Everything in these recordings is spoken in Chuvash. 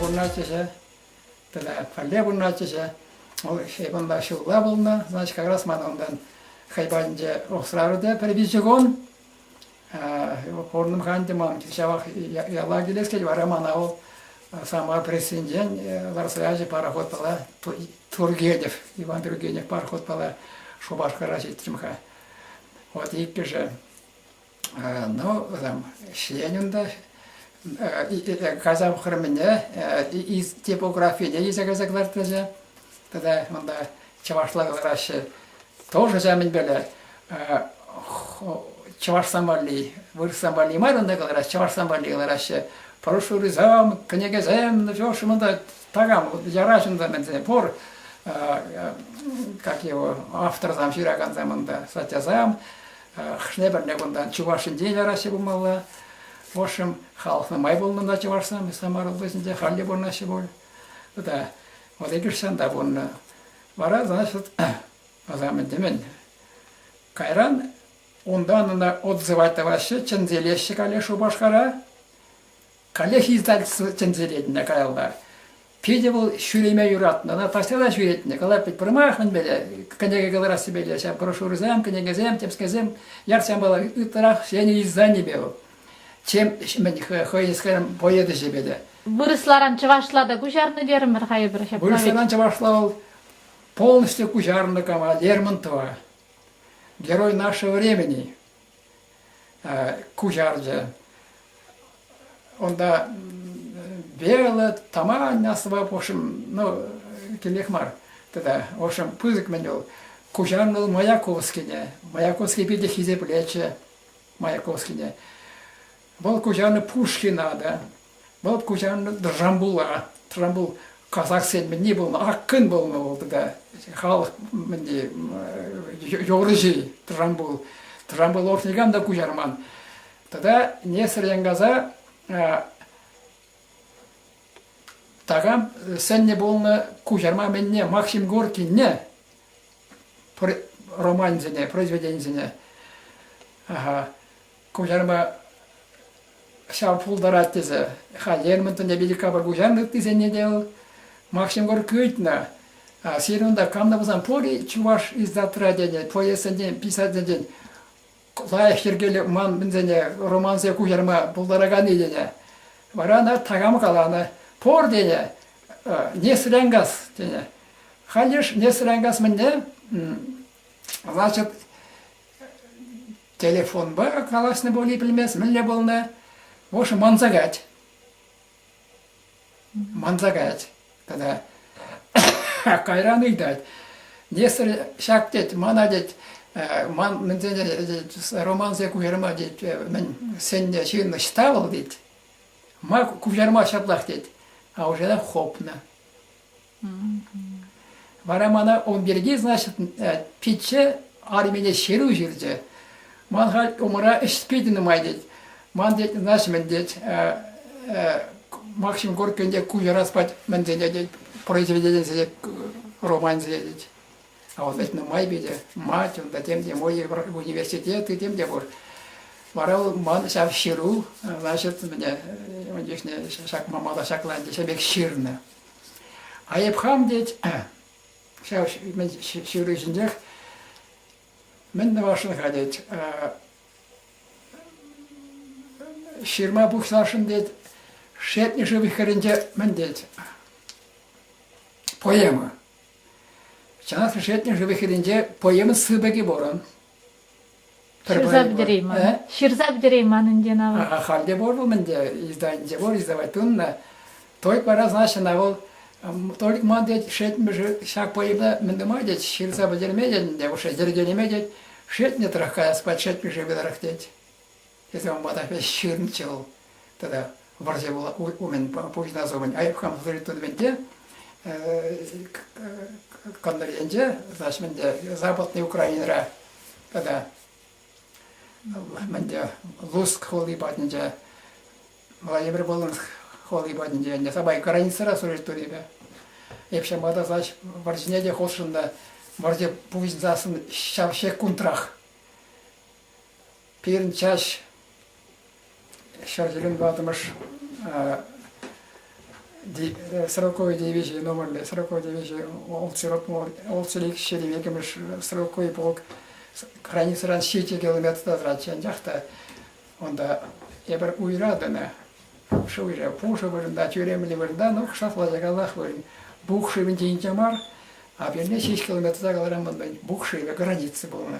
пурӑнатчӗҫӗ тата пӗрле пурӑнатчӗҫӗ вӑл хайпанпа ҫулла пулнӑ значит как раз ман унтан хайпанче рухсраврде пӗр виҫӗ кун пурӑнӑм ханте ман ҫавах яла килес кет вара мана вӑл самого пресsinчен ларса ячӗ пароход пала Тургенев Иван Тургенев пароход пала Шупашкара ҫитрӗм-ха Вот иккӗшӗ. Ну, там, ҫленӗн та Казав хырӑмӗне типографине илсе кайса кӑлартрӗҫe. Тата унта чӑвашла кӑлараҫҫӗ. Тоже ҫав мӗнпеле чӑвашсан валли, вырӑсссан валли мар унта кӑлараҫҫӗ, чӑвашсан валли кӑлараҫҫӗ. Прошу рызам, кӗнекесем, ну чё ж унта Такам яра ҫынсем ӗнтӗ пур, как его, авторсам ҫыракансем унта, статьясам, хшне-пӗрне кунта чӑваш ҫинчен яраҫҫӗ пулмалла. В общем, халӑхна май пулнӑ та чӑвашсам, Самара облаҫӗнче халле пурӑнаҫҫӗ пуль. Тата вот эти шанда пурӑннӑ. Вара, значит, мӗн кайран унтан ӑна отзывать тӑваҫҫӗ, чӗнселеҫҫӗ каллех Шупашкара. Каллех издательство чӗнсе ретне каялла. Питӗ вӑл ҫӳреме юратнӑ. Она постоянно ҫӳретнӗ. Калать, пӗрмах мӗнпеле кӗнеке кӑларассипеле ҫав брошюрӑсем, кӗнекесем, тӗпскесем ярсамалла ытларах ҫӗнӗ изданипе вӑл, чем мӗн хӑй скажем поэт ӗҫӗпе те. Вырӑсларан чӑвашла та куҫарнӑ терӗмӗр-ха эпир ҫапла Вырӑсларан чӑвашла вӑл полностью куҫарнӑ кама Лермонтова. Герой нашего времени. куҫарчӗ. Унта верлӑ тамань асӑпа пушым, ну, килех мар. Тата, в общем, пысӑк мӗн вӑл. Куҫарнӑ вӑл Маяковскине. Маяковский питӗ хисеплетчӗ Маяковскине. Вӑл куҫанӗ Пушкина та. Вӑл куҫанӗ Джамбула. Джамбул казахсен мӗнни пулнӑ, аккӑн пулнӑ вӑл тата. Халӑх мӗнни, юрӑҫи Джамбул. Джамбул уж никам та куҫарман. Тата Несер Янкаса такам сӗннӗ пулнӑ куҫарма мӗнне Максим Горькинне романсене, произведенисене. Ага. куҫарма ҫав пултарать тесе. Халь Эрмӗнтен Эпиликапа куҫарнӑ ыттисене те вӑл Макҫӑмкор кӳтнӗ. А сирӗн унта каннӑ пулсан пур-и чӑваш издатра тенӗ поэтсенчен, писательсенчен лайӑх йӗркелӳ ман мӗнсене романсем куҫарма пултараканни тенӗ. Вара ӑна такам каланӑ, пур тенӗ, Несрянгас тенӗ. Халь йыш Несрянгас мӗнне, значит, Телефонпа калаҫнӑ пуль пӗлмес мӗнле пулнӑ. В общем, манса кать. Манса кать тата. Кайран ыйтать. Нестер ҫак тет, мана тет, ман мӗнсене романсе куҫарма тет, мӗн сенне ҫын ӑҫта вӑл тет. Ма куҫарма ҫаплах тет, а уже хоп на. Вара мана ун пирки, значит, пичче армине ҫыру ҫырчӗ. Ман халь умра ӗҫ питӗ нумай тет. Ман тет, значит, мӗн тет, Максим Горькийӗн куҫарас пать мӗнсене тет, произведенисене, романсене тет. А вот это нумай питӗ. Мать, унта тем те мой университет и тем те пур. Вара ул ман ҫав ҫыру, значит, мне, ҫак мамала ҫакланчӗ, ҫамек ҫырнӑ. А хам тет, ҫав ҫыврӑҫӗнчех мӗн тӑвасшӑн-ха тет, ҫырма пухсасшӑн тет, Шетнӗши вихрӗнче мӗн тет, поэма. Чӑнах та Шетнӗши вихрӗнче поэма сыпӑкӗ пурӑн. Ҫырса пӗтерейман. Ҫырса пӗтерейман ӗнтӗ ӑна. Халь те пур вӑл ӗнтӗ, издательте пур, издавать туннӑ. Только раз начинал вӑл только ман тет шетмӗшӗ ҫак поэмда мӗн тума тет ҫырса пӗтерме тет ӗнтӗ, уж йӗркелеме тет, шетне трах каяс пат шетмӗшӗ пытарах тет. Тесе ун пата ӗҫ ҫырнӑччӗ вӑл тата вӑрҫӑ умӗн пуҫнас айӑп-хам тытӑмӗн те кӑнтӑр енче, значит, мӗнде Западный Украинӑра тата мӗнде Луцк хули патӗнче, Владимир Волынск хули патӗнче, ӗнтӗ Сабай границӑра служить тунипе. Эп ҫавӑнпа та значит, вӑрҫине те хутшӑннӑ, вӑрҫӑ пуҫӑнсассӑн ҫав ҫеккунтрах Пирӗн чаҫ ҫӗр тӳлем тӑваттӑмӗш сороковой девизии номерлӗ сороковой девизии ултӑ ҫирӗм иккӗмӗш сороковый полк границӑран ҫичӗ километрта тӑратчӗ анчах та унта эпир уйра тӑнӑ пушӑ уйра пушӑ вырӑнта тӳремлӗ вырӑнта ну шатлатаканлах вырӑн бук шывӗнче инҫе мар а пирӗн ҫеҫ километрта кӑларман бук шывӗ граница пулнӑ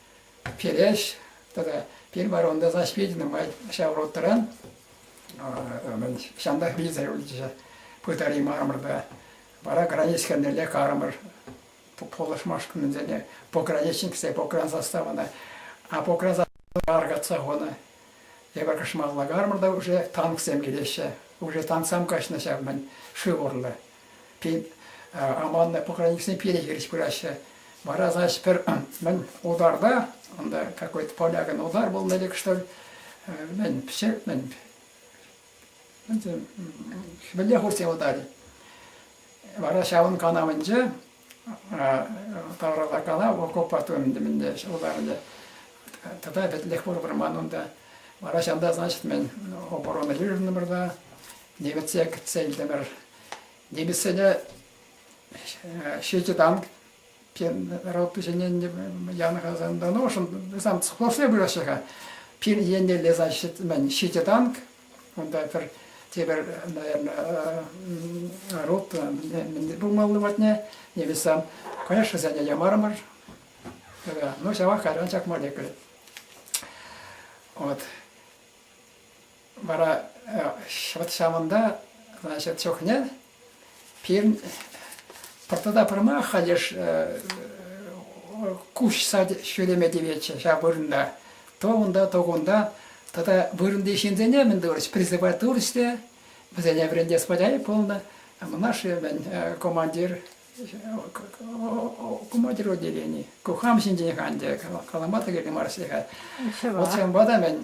Переш тата пирмӗр унта заспиденный май ҫав ротран мӗн ҫантах вилсе юлчӗ пытари мармӑрта. Вара границ хӗрнелле карӑмӑр пулӑшмашкӑнсене пограничниксем погран заставӑна, а погран заставӑна аркатса хунӑ. Эпӗр кӑшмалла кармӑрта уже танксем килеҫҫӗ. Уже танксам каҫнӑ ҫав мӗн шыв урлӑ. Пин аманнӑ поклонниксем пире хирӗҫ пыраҫҫӗ. Вара, значит, пӗр мӗн ударда, анда какой-то понякин удар был или что ли, мӗн, все, мӗн, хӗвелле хурсе удали. Вара ҫавӑн канавӗнче тавралакана окопа тунӑ мӗнле ҫулларне. Тата пӗтӗмпех пур вӑрман унта. Вара ҫавӑнта, значит, мӗн оборона юрӑнтӑмӑр та немӗтсе кӗтсе илтӗмӗр. Немӗтсене ҫичӗ танк ротпиҫененне янӑ Казандан ошӑн, сам склофсем выраҫҫӗ-ха. Пин еннелле, значит, мӗн ҫичӗ танк, Унта пӗр тепӗр, наверное, рут мӗн пулмалли патне невестам, конечно, сене ямарӑмӑр. Ну, ҫавах кайран чакма лекрӗ. Вот. Вара вот ҫавӑнта, значит, чухне Пирӗн пӗр тата пӗрмах ха леш куҫса ҫӳреме тиветчӗ ҫав вырӑнта. То унта, то кунта. Тата вырӑнти ҫынсене мӗн тӑвӑрӗҫ, призывать турӗҫ те вӗсене вӗрентес валяй пулнӑ. Мӑнашши мӗн командир командир отделени. Ку хам ҫинчен хан те калама та кирлӗ мар сире. Вот ҫавӑнпа та мӗн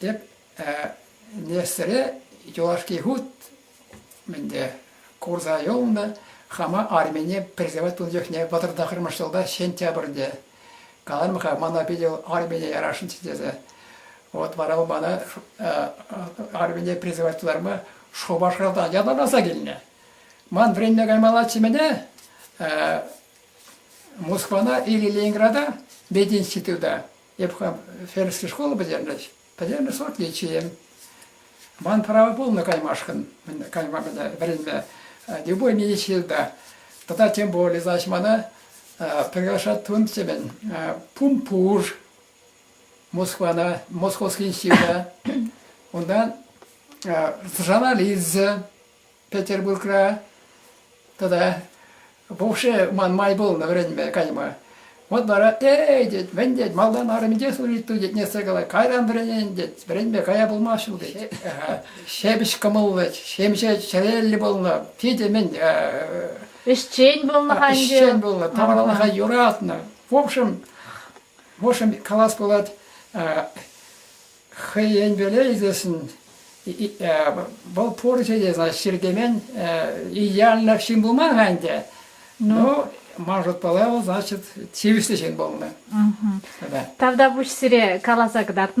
Тӗп меслре юлашки хут ӗнтӗ курса юлнӑ. Хама армине призывать тунӑ чухне вӑтӑр тӑхӑрмӗш ҫулта сентябрьте каланӑ-ха, мана питӗ вӑл армине ярасшӑнччӗ тесе. Вот вара вӑл мана армине призывать тутарма Шупашкартан ятарласа килнӗ. Ман вӗренме каймаллаччӗ мене Москвана или Ленинграда мединститута Эп хам Феррская школа пӗтернӗҫ. Пӗтернӗ сортничием. Ман право пулнӑ каймашкӑн, кайма мӗне вӗренме, любой медицинта. Тата тем более, значит, мана приглашать тунтимен Пумпуж, Москвана, Московский института, унтан журналист Петербургра тата пушӑ ман май пулнӑ вӗренме кайма. Вот вара эй тет, мӗн тет, малтан армиде служить ту тет, нессе калать, кайран вӗренен тет, вӗренме кая пулмасть ҫул тет. Ҫепӗҫ кӑмӑллӑ, ҫемҫе чӗреллӗ пулнӑ, питӗ мӗн ӗҫчен пулнӑ ӗҫчен пулнӑ, тавралӑха юратнӑ. В общем, Вӑшӑн калас пулать, хӑйен веле ӳсесшӗн вӑл пурҫӑ те сасҫыр темен идеальлӗх ҫын пулман-ха ӗнтӗ. Ну, ман шутпала вӑл, значит, тивӗслӗ ҫын пулнӑ. Тата. Тавтапуҫ сире каласа кӑтартнӑ